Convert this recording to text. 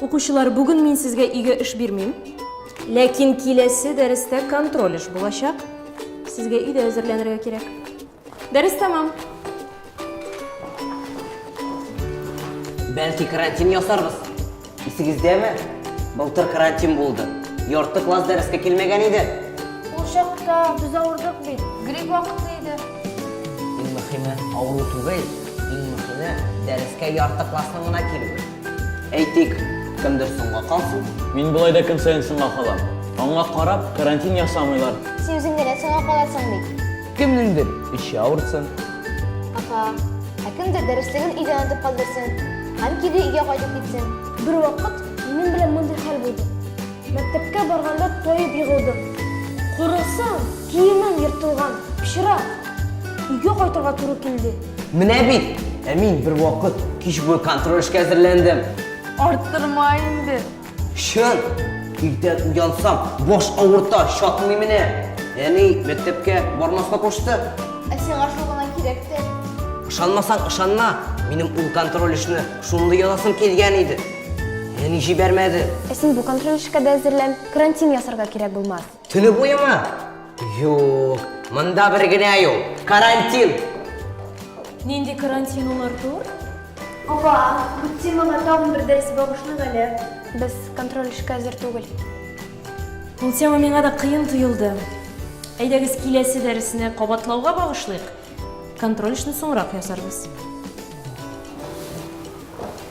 Укучылар, бүген мин сезгә өйгә эш бирмим. Ләкин киләсе дәрестә контроль эш булачак. Сезгә өйдә әзерләнергә кирәк. Дәрес тәмам. Бәлки карантин ясарбыз? Исегездәме? Былтыр карантин булды. Ярты класс дәрескә килмәгән иде. Ул чакта без авырдык бит. Грипп вакыты иде. Иң мөхиме авыру түгел, иң мөхиме дәрескә ярты классның гына килүе. Әйтик, кемдер соңга калсын. Мин болай да көн саен соңга калам. Аңа карап, карантин ясамыйлар. Син үзең генә соңга каласың бит. Кемнеңдер эче авырсын. Апа, ә кемдер дәреслеген өйдә онытып калдырсын. Һәм кире өйгә кайтып китсен. Бер вакыт минем белән мондый хәл булды. Мәктәпкә барганда тоеп егылдым. Карасам, киемем ертылган, пычрак. Өйгә кайтырга туры килде. Менә бит! Ә мин бервакыт кич буе контроль эшкә әзерләндем. Арттырма инде. Чын! Иртән уянсам, баш авырта, чатмый менә. Әни мәктәпкә бармаска кушты. Ә сиңа шул гына кирәк тә. Ышанмасаң, ышанма. Минем ул контроль эшне шундый язасым килгән иде. Әни җибәрмәде. Ә син бу контроль эшкә дә әзерлән. Карантин ясарга кирәк булмас. Төне буеме? Юк, монда бер генә юл. Карантин. Нинди карантин ул, Артур? Апа, бу темага тагын бер дәрес багышлыйк әле. Без контроль эшкә әзер түгел. Ул тема миңа да кыен тоелды. Әйдәгез киләсе дәресне кабатлауга багышлыйк. Контроль эшне соңрак ясарбыз.